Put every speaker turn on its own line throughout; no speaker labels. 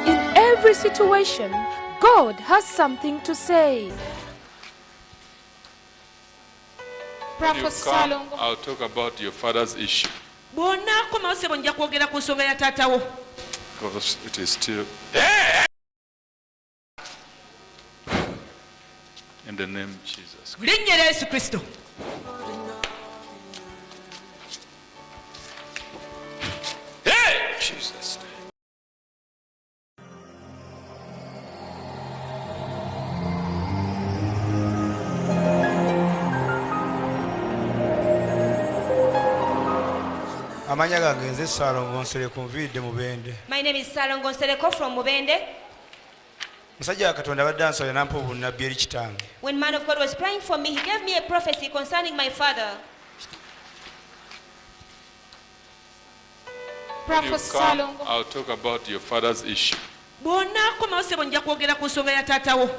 In every situation, God has something to say.
When you come, I'll talk about your father's issue. bw'onaakomawo sebo nja kwogera ku nsonga ya taatawo Because it is still. linnya erya yesu kristo
amanya gange nze salongo nsereko nviidde mubende my name is salongo nsereko from mubende musajja wa katonda abadde ansabira nampa obunnabbi eri kitange When man of God was praying for me, he gave me a prophecy concerning my father. When you
Prophet come, Salongo. I'll talk about your father's issue. bw'onaakomawo sebo nja kwogera ku nsonga ya taatawo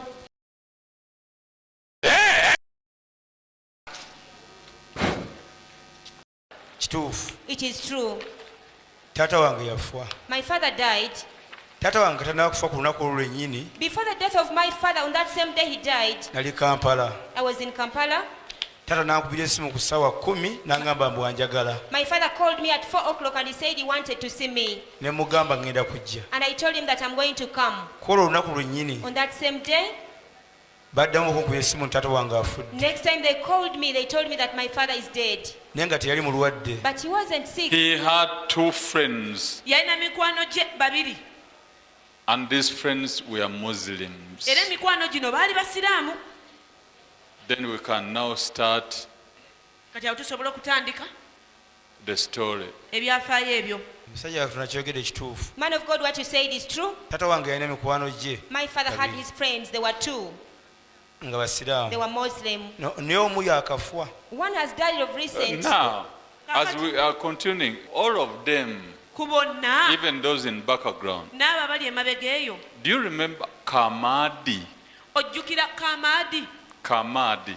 kituufu it is true taata wange yafa my father died taata wange katanakufa ku lunaku olwo lwennyini before the death of my father on that same day he died nali kampala i was in kampala taata nankubira esimu ku ssaawa kumi nangamba mbu anjagala my father called me at 4 o'clock and he said he wanted to see me ne mugamba ngenda kujja and i told him that i'm going to come kwolwo olunaku lwennyini on that same day Baddamu okunkuba essimu nti taata wange afudde. Next time they called me, they told me that my father is dead. Naye nga teyali mulwadde. But he wasn't sick. He had two
friends. Yalina mikwano gye babiri. And these friends were Muslims. Era emikwano gino baali Basiraamu. Then we can now start. Kati awo tusobola okutandika. the story. Ebyafaayo ebyo. Musajja watu nakyogede
kituufu. Man of God what you said is true. Tata wange yalina mikwano jje. My father had his friends they were two. Nga basiramu. They were Muslim. No, ne omu yakafwa. One has died of recent. Uh, now, as
we are continuing, all of them. Kubona. Even those in background. Naba bali emabega eyo. Do you remember Kamadi? Ojjukira Kamadi? Kamadi.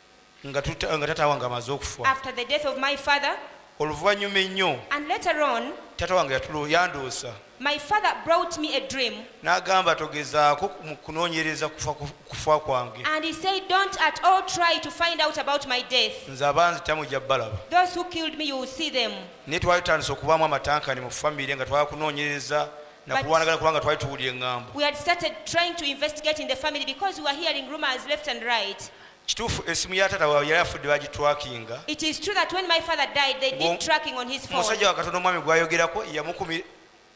nga tuta, nga taata wange amaze okufa, after the death of my father, oluvannyuma ennyo and later on, taata wange yatulo yandoosa my father brought me a dream n'agamba togezaako ku- mu kunoonyereza kufa ku- kufa kwange and he said, Don't at all try to find out about my death. nze abanzita mujja balaba Those who killed me, you will see them. naye twali tutandise okubaamu amatankane mu famire nga twala kunoonyereza na But- kulwanagana kubanga twali tuwulira eŋŋambo We had started trying to investigate in the family because we were hearing rumors left and right. Kituufu esimu ya taata wabwe yali afudde bagitwakinga? It is true that when my father died they did tracking on his phone. Omusajja wa Katonda omwami gwayogerako yamukumi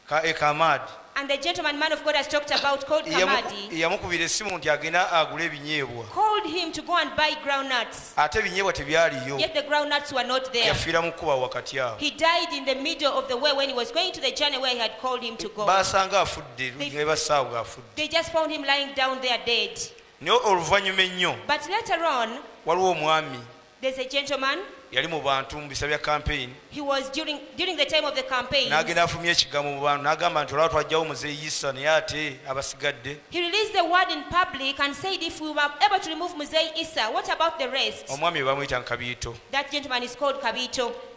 ka e Kamadi. And the gentleman man of God has talked about called Kamadi. Yamukubira esimu nti agenda agule ebinyeebwa. Called him to go and buy ground nuts. Ate ebinyeebwa tebyaliyo. Yet the ground nuts were not there. Yafiira mu kuba wakati awo. He died in the middle of the way when he was going to the journey where he had called him to go. Baasanga afudde, ne basaawo afudde. They just found him lying down there dead. Naye oluvannyuma ennyo, But later on, waliwo omwami there's a gentleman, yali mu bantu mu bisa bya kampeyini he was during, during the time of the campaign, n'agenda afulumya ekigambo mu bantu n'agamba nti olaba twajjawo muzeeyi yisa naye ate abasigadde he released the word in public and said if we were able to remove Muzei Issa, what about the rest? omwami we bamuyita nkabiito That gentleman is called Kabito.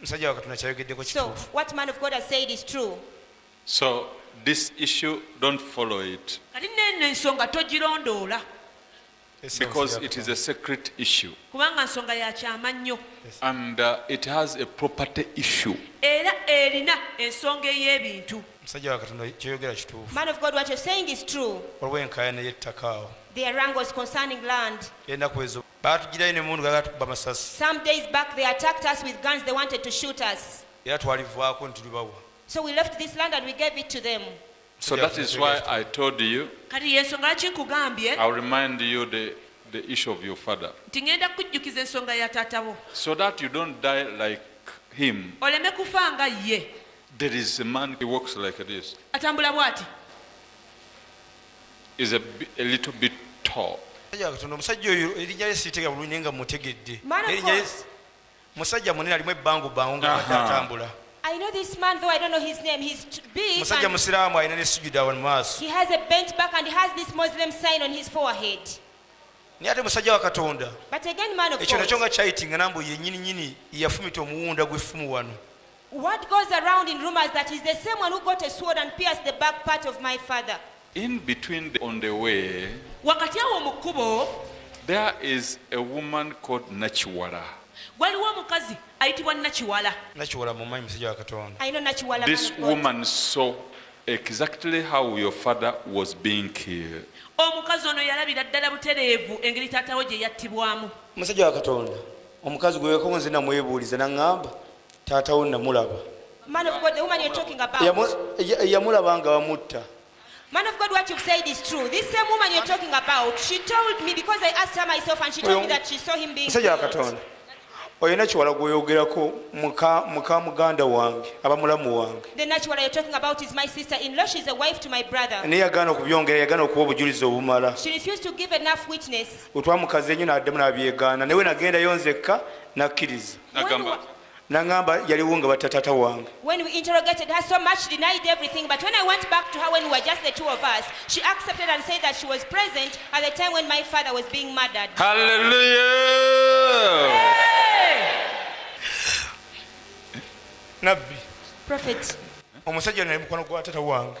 musajja wakatonda kyayogeddeko kituufu what man of god has said is true so
this issue don't follow it kati nene ensonga togirondoola because it is a secret issue kubanga nsonga ya kyama nnyo and uh, it has a property issue era erina ensonga ey'ebintu musajja
wakatonda kyoyogera kituufu man of god what you're saying is true olw'enkaayana y'ettaka awo their wrangles concerning land enaku ezo Baatujjirayo n'emmundu nga bagala tukuba masasi. Some days back they attacked us with guns, they wanted to shoot us. Era twalivaako ne tulibawa. So we left this land and we gave it to them. So
that is why I told you, Kati y'ensonga lwaki nkugambye I'll remind you the, the issue of your father nti ŋŋenda kukujjukiza ensonga ya taata wo so that you don't die like him. oleme kufa nga ye There is a man, he walks like this. atambula bw'ati is a, a little bit tall. omusajja oyo erinya lye siritega bulungi naye nga mutegedde erinya lye
musajja munene alimu ebbangu bbangu nga badde atambula I know this man, though I don't know his name. He's big. musajja musiraamu alina ne sujuda wano maaso He has a bent back and he has this Muslim sign on his forehead. naye ate musajja wa katonda But again, man of ekyo nakyo God, nga kyayitingana mbu yenyini nyini yafumita omuwunda gw'effumu wano Word goes around in rumors that he's the same one who got a sword and pierced the back part of my father. In between
the, on the way, wakati awo mu kkubo there is a woman called Nachiwala. waliwo
omukazi ayitibwa nakiwala nakiwala mumanyi musajja wa katonda I know Nachiwala. This man of God. woman
saw exactly how your father was being killed. omukazi ono yalabira ddala butereevu engeri taatawo gye yattibwamu musajja wa katonda omukazi gwe wekonze namwebuuliza naŋŋamba Taata wo namulaba. Man of God, the woman you're talking about. Yamu, ya, yamulaba nga bamutta. Man of God, what you've said is true. This same woman you're talking about, she told me because I asked her myself and she told me that she saw him being killed. oyo nakiwala gweyogerako muka muka muganda wange aba mulamu wange The nakiwala you're talking about is my sister in law. She's a wife to my brother. naye yagaana okubyongera yagaana okuwa obujulizi obumala She refused to give enough witness. otwamukazi enyo n'addamu n'abyegaana naye we nagendayo nzekka n'akkiriza nagamba nangamba yaliwo nga batta taata wange when we interrogated her so much denied everything but when i went back to her when we were just the two of us she accepted and said that she was present at the time when my father was being murdered hallelujah
nabbi prophet omusajja naye mukwano gwa taata wange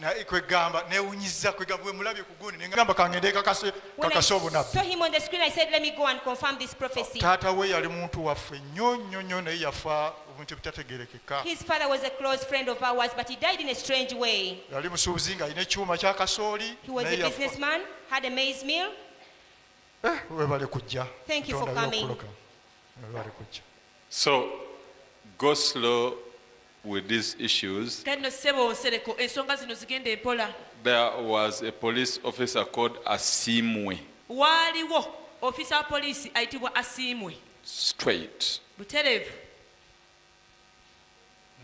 naye kwegamba
newunyiza kwegamba wemulabye kugundi nengamba kangende kakase
kakase obunabitaata we yali muntu waffe nnyo nnyo nnyo naye yafa obuntu ebitategerekeka yali musuubuzi nga alina ekyuma kyakasooli eh, webale kujja webale kujja
so goslo with these issues. Kale no ssebo Nsereko ensonga zino zigende mpola. There was a police officer called Asiimwe. Waaliwo ofiisa wa poliisi ayitibwa Asiimwe. Straight. Butereevu.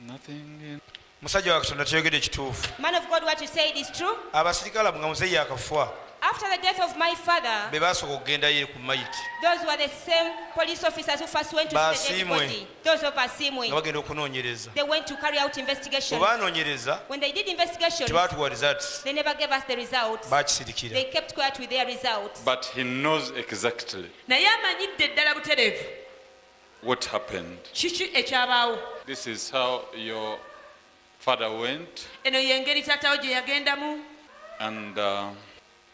Nothing in Musajja wa Katonda toyogede ekituufu.
Man of God what you said is true. Abasirikale abo nga muzeeyi yakafwa. After the death of my father. Be baasooka okugendayo ku mayiti. Those were the same police officers who first went to see the dead body. Ba Asiimwe. Those of Asimwe, nga bagenda okunoonyereza they went to carry out bwe investigations. baanoonyereza When they did investigations, tebaatuwa results they never gave us the results. baakisirikira They kept quiet with their results. But he knows
exactly naye amanyidde ddala butereevu what happened. kiki ekyabaawo This is how your father went, eno y'engeri taatawo gye yagendamu and uh,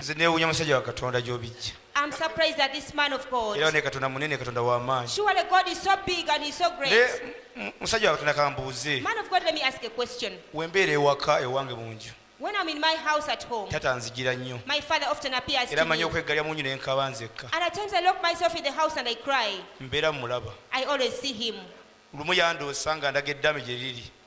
nze newunya
musajja wa katonda gyobijja I'm surprised at this man of God. era ne katonda munene katonda
w'amaanyi Surely God is so
big and he's so great. naye mu- musajja wa
katonda kambuuze Man of God, let me ask a
question. wembeera ewaka
ewange mu nju When I'm in my house
at home, tata nzigira nnyo my
father often appears
era to me. manyi okweggalya mu nju ne
nkaba nzekka And at times I lock myself
in the house and I cry. mbeera mulaba
I always see him.
lumu yandoosa
nga ndaga eddaame gye liri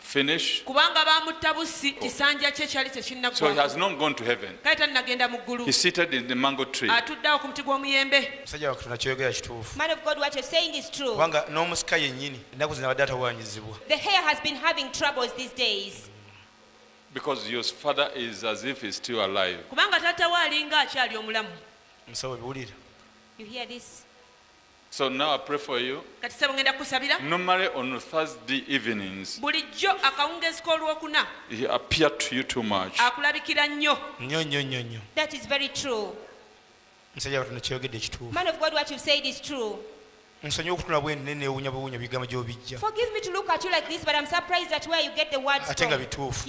finish. Kubanga baamutta bussi, oh. kisanja kye kyali tekinnaggwako. So he has not gone to heaven. Kale tannagenda mu ggulu. He seated in the mango tree. Atudde awo ku muti gw'omuyembe.
Musajja wa Katonda ky'oyogera kituufu. Man of God, what you're saying
is true. Kubanga n'omusika yennyini
ennaku zino abadde atawaanyizibwa. The hair has been
having troubles these days. Because
your father is as if he's still alive. Kubanga taata we alinga akyali omulamu.
Musawo biwulira. You hear this?
So
now I pray for you. Kati sebo ngenda kusabira. Normally on Thursday evenings. Bulijjo akawungezi k'olwokuna. He appeared to you too much. Akulabikira nnyo. Nnyo
nnyo nnyo nnyo. That is very true. Musajja watu nokyogedde kituufu. Man of God what you said is
true. nsonyi okutula
bwenne newunya buwunya bigambo gyobijja
ate nga bituufu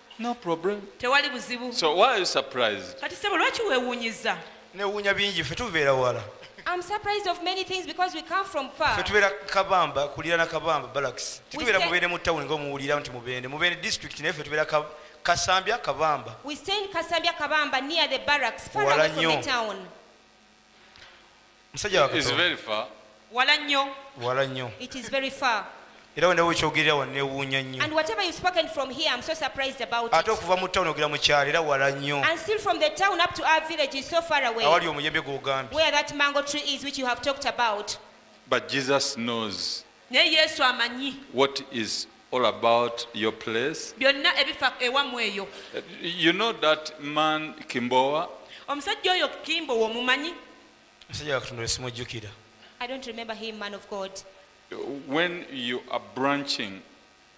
No problem. Tewali buzibu. So why are you surprised? Kati sebo lwaki wewunyiza?
Newunya bingi fe tubeera wala. I'm surprised
of many things because we come from far. Fe tubeera Kabamba,
kulira na Kabamba barracks. Tubeera mubende mu town ngo muwulira nti mubende. Mubende district ne fe tubeera Kabamba. Kasambya Kabamba. We stay in Kasambya
Kabamba near the barracks far away from the town. musajja
wa It's katonda very far. wala
nnyo
wala nnyo it is very far
era wenda wekyogerera
wanewuunya nnyo and whatever you spoken from
here i'm so surprised about ate it okuva mu tawuni ogera
mu
kyalo
era wala nnyo and still from the town
up to our village is so far away awali omuyembe gwogambye
where that mango tree
is which you have talked about But Jesus
knows. Naye Yesu amanyi. What is all about your place. Byonna ebifa ewamwe eyo. You know that man Kimbowa? Omusajja oyo
Kimbowa omumanyi? Omusajja wa Katonda oyo simujjukira. I don't remember
him man of God. When
you are branching.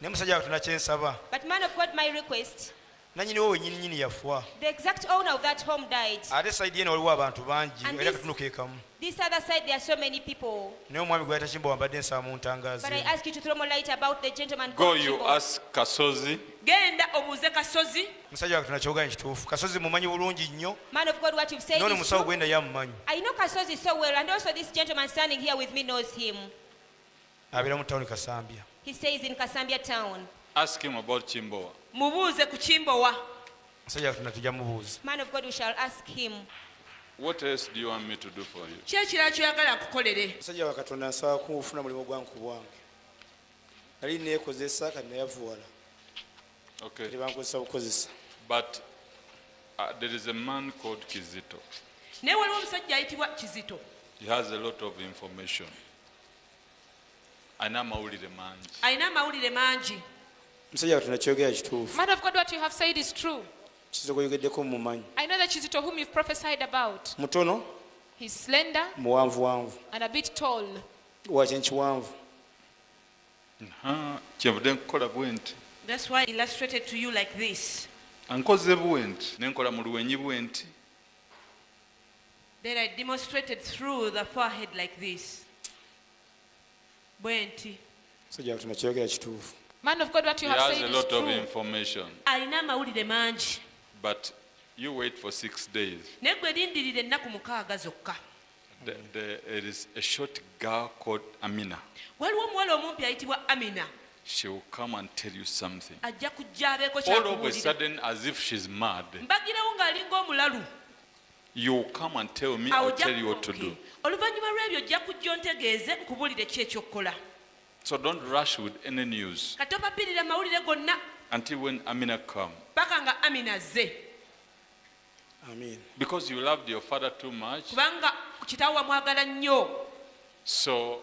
naye musajja katonda
kyensaba But man of God, my
request, nanyiniwo wenyini
nyini yafa the exact owner of
that home died. ate saidi yena waliwo
abantu bangi And era this- katunu kekamu
This
other side, there are so
many people. naye omwami gwe yatakimba
wambadde nsaba mu ntangaazi But I ask you to throw more
light about the gentleman Go called you Kibo. ask Kasozi.
genda obuuze kasozi
musajja katonda kyogaanyi kituufu kasozi mumanyi bulungi nnyo Man of God, what you've said
noono is musawo true. gwenda yamumanyi I
know Kasozi so
well, and also this gentleman standing here with me knows him.
Abeera mu town kasambya. He stays in Kasambya
town. Ask him about
kimbowa. Mubuuze ku kimbowa.
Musajja katonda tujja mubuuza. Man of God we shall ask
him. What
else do you want me to do for you? Ki ekirala kyoyagala nkukolere?
Musajja wa Katonda nsaba kufuna mulimu gwange ku bwange. Nali neekozesa kati nayavuwala.
Okay. Kati bankozesa bukozesa.
But
uh, there is a man called Kizito. Naye waliwo omusajja ayitibwa Kizito. He has a lot of information. alina amawulire mangi alina amawulire mangi musajja
katonda kyogera kituufu man of god what you have said
is true kizito gweyogeddeko
mumanyi i know that kizito whom
you've prophesied about mutono
he's slender
muwanvu wanvu
and a bit tall
wakyen
kiwanvu kyevude nkukola bwe nti
that's why illustrated to you like this ankoze bwe
nti nenkola mu luwenyi bwe nti
Then I demonstrated through the forehead like this. Bwenti. Musajja watu nakyogera
kituufu. Man of God, what you have
said is true. He has a lot of information.
Alina amawulire
mangi. But
you wait for six days. Naye gwe lindirira
ennaku mukaaga zokka. There,
there is a short girl called Amina. Waliwo omuwala
omumpi ayitibwa Amina. She will come
and tell you something. Ajja kujja abeeko
kyakubuulira. All of a sudden
as if she's mad. Mbagirawo ng'alinga
omulalu.
Awo ojja kubuuki. Oluvannyuma lw'ebyo ojja
kujja ontegeeze, nkubuulire ki eky'okukola. So don't
rush with any news. Kati topapirira mawulire
gonna. Until when Amina
come. Paka nga Amina
azze.
Amen. Because you
loved your father too much. Kubanga kitawo
wamwagala nnyo. So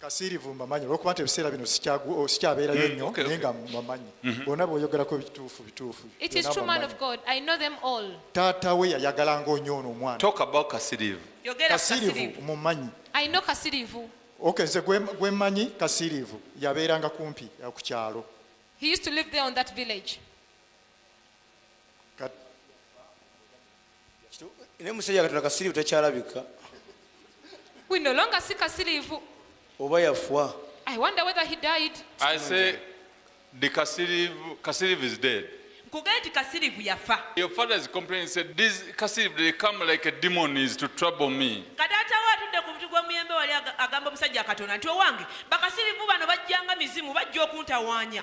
Kasiirivu
mbamanyi olwokuba nti ebiseera bino sikyabeerayo nnyo naye nga mbamanyi bonna boyogerako bituufu bituufu.
Taata we yayagalanga
onyo ono omwana.
Kasiirivu
mumanyi.
Ok nze
gwemanyi Kasiirivu yabeeranga kumpi ku kyalo.
ne musajja katonda kasirivu takyalabika
we no longer si kasirivu oba yafwa
i wonder whether he
died i say the
kasirivu kasirivu is dead nkugee nti kasirivu
yafa your father is complaining
said this kasirivu they come like a demon is to trouble me kadaatawo atudde ku
muti gw'omuyembe wali agamba omusajja katonda nti owange bakasirivu bano bajjanga mizimu bajja okuntawaanya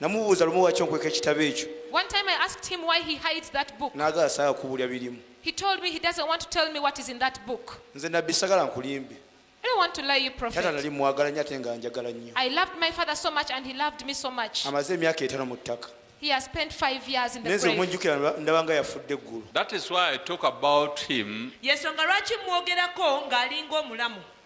namubuuza lumu waki onkweka ekitabo ekyo naga asaaga kubulya birimu nze nabbi sagala nkulimbe tata nali mwagala nyo ate nga njagala nnyo amaze emyaka etano mu ttaka He has spent five years in the grave. That is why
I talk about him.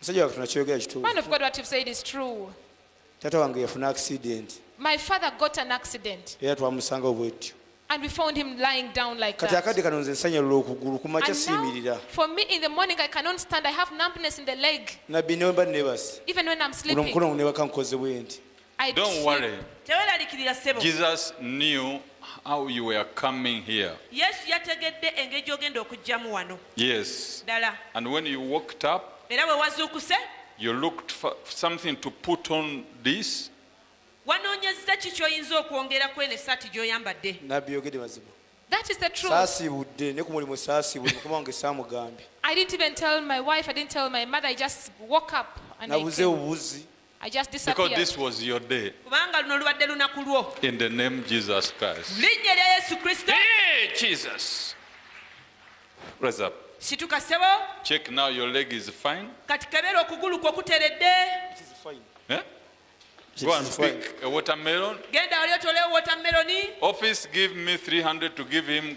Musajja wa Katonda kyoyogera kituufu. Man of God what you've said is true. Taata wange yafuna accident. My father got an accident. Era twamusangawo bwetyo. And we found him lying down like that. Kati akadde kano nze nsanyalula okugulu kumakya siyimirira. For me in the morning I cannot stand I have numbness in the leg. Nabbi ne bwe mba nebase. Even when I'm sleeping. Uno mkono ne bakankoze bwenti. I Don't
see- worry. tewerarikirira sebo Jesus knew how you were coming here. yesu yategedde engeri gy'ogenda okujjamu wano Yes. ddala And when you walked up, era bwe wazuukuse you looked for something to put on this. wanoonyezza
ki ky'oyinza okwongera ku eno essaati gy'oyambadde nabbi yogede mazima That is the truth. saasiibudde ne ku mulimu saasiibudde mukama wange saamugambye I didn't even tell my wife, I didn't tell my mother, I just woke up and I nabuze came. obubuzi I just Because disappeared. this was your day.
kubanga luno lubadde lunaku lwo In the name Jesus mu Christ. linnya erya yesu kristo Hey, Jesus. Rise up. situka ssebo Check now, your leg is fine. kati kebeera okugulu kwo kuteredde Eh? Go and pick a watermelon. genda wali otolewo wotameroni Office, give me 300 to give him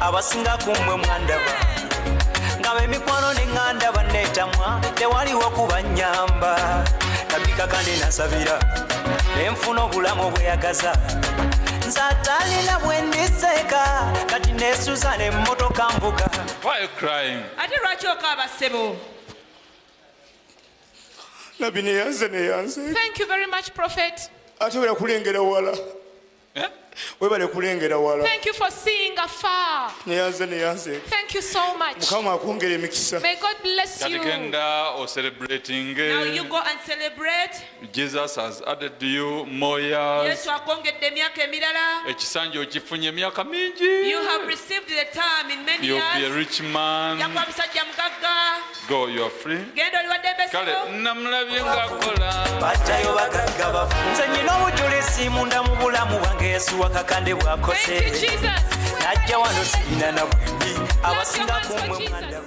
abasinga kumwe mwandaba nga bemikwano neŋŋanda banneetamwa tewaliwo kubanyamba nabikakane nasabira nenfuna obulamu obweyagaza nze atalina bwendiseeka kati nesuza nemmotoka mbuga
ate lwaki okaaba ssebo
nabbi neyanze neyanze
ate bweyakulengera
wala Eh? webale kulengera
wala neyanze neyanze mukama akwongera emikisa kati genda
ocerebratinge
jesus has
added you more years ekisanja okifunye
emyaka mingi you'll be a rich man
Go, you are free. Genda oli wadde mbese. Kale
namulabye ngakola. Batayo bagagga bafu.
Nze nyina obujulizi munda mu bulamu bwange Yesu wakakande bwakoze. Najja wano sirina na bwembi abasinga kumwe mwandaba.